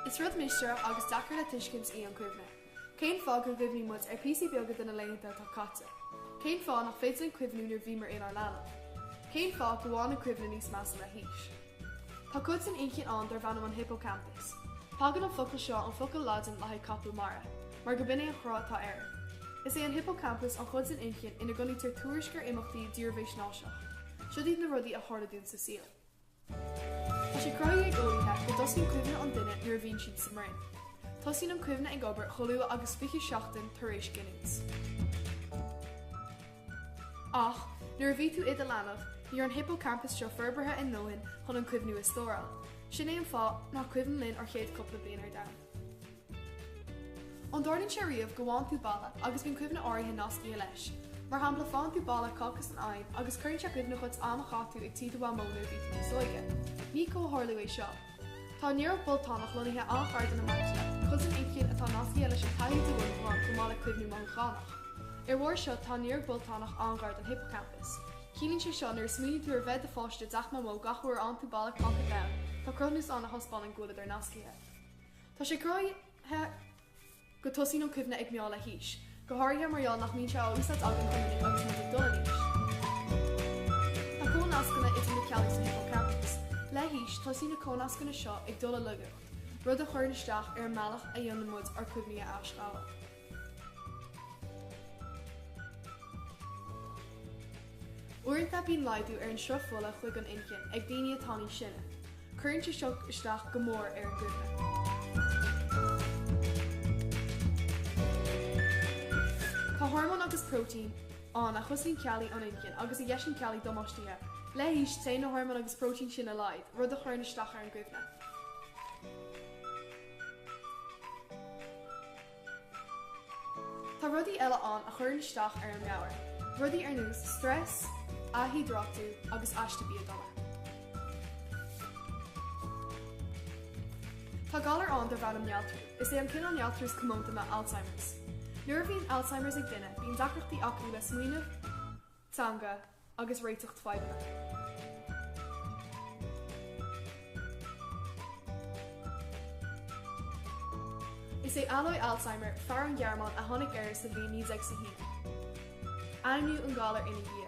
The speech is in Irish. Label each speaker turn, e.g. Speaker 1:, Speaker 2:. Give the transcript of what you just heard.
Speaker 1: Is rud mistéireach agus deacair le tuiscint í an chuimhne. Cén fáth go gcuimhníonn muid ar phíosaí beaga de na laethanta atá caite? Cén fáth nach féidir linn cuimhniú nuair a bhíomar inár leanbh? Cén fáth go bhfaigheann an chuimhne níos measa le haois? Tá cuid den inchinn ann darb ainm an hippocampus. Tagann an focal seo ón focal Laidin le haghaidh capall mara, mar go b'in é an cruth atá air. Is é an hippocampus an chuid den inchinn ina gcoinnítear tuairisc ar imeachtaí dírbheathaisnéiseach. Siod iad na rudaí a tharla dúinn sa saol. Tá sé cruthaithe ag eolaithe go dtosaíonn cuimhne an duine nuair a bhíonn siad sa mbroinn. Tosaíonn an cuimhne ag obair chomh luath agus 20 seachtain tar éis giniúint. Ach, nuair a bhí tú id a leanbh, ní raibh an hippocampus seo forbartha a dóthain chun na cuimhní a stóráil. Sin é an fáth nach cuimhin linn ár chéad chúpla bliain ar domhan. An dtarlaíonn sé riamh go bhfaigheann tú boladh agus bíonn cuimhne áirithe nascaithe leis? Mar shampla, faigheann tú boladh cáca san oigheann agus cuireann sé i gcuimhne dhuit am a chaith tú ag tí do mhamó nuair a bhí tú níos óige. Ní comhtharlú é seo. Tá an néaróg bholtanach lonnaithe an-ghar don amygdala, cuid san inchinn atá nascaithe leis an taithí de mhothúcháin chomh maith le cuimhní mothúchánach. Ar bharr seo tá an néaróg bholtanach an-ghar don hippocampus. Ciallaíonn sé seo nuair a smaoiníonn tú ar bheith i do pháiste i dteach Mamó gach uair a fhaigheann tú boladh cáca donn, tá cruthúnas ann a thaispeánann go bhfuileadar nascaithe. Tá sé cruthaithe go dtosaíonn an chuimhne ag meath le haois, go háirithe mar gheall nach mbíonn sé á úsáid againn go minic agus muid ag dul in aois. Tá comhnascanna idir na cealla san hippocampus. Le haois, tosaíonn na comhnascanna seo ag dul i laigeacht, rud a chuireann isteach ar an mbealach a dhéanann muid ár gcuimhní a aisghabháil. Uaireanta bíonn laghdú ar an sruth fola chuig an inchinn ag daoine atá níos sine. Cuireann sé seo isteach go mór ar an gcuimhne. Tá hormóin agus próitéin ann a chosnaíonn ceallaí an inchinn agus a dheiseann ceallaí damáistithe. Le haois, téann na hormóin agus próitéin sin i laghad, rud a chuireann isteach ar an gcuimhne. Tá rudaí eile ann a chuireann isteach ar an meabhair, rudaí ar nós stress, dhíhiodráitiú agus aiste bia dona. Tá galar ann darb ainm néaltrú. Is é an cineál néaltrú is comónta ná Alzheimers. Nuair a bhíonn Alzheimers ag duine bíonn deacrachtaí acu le smaoineamh, teanga, agus réiteach fadhbanna. Is é Alois Alzheimer, fear ón Ghearmáin a tháinig air sa bhliain 1921. Ainmníodh an galar ina dhiaidh.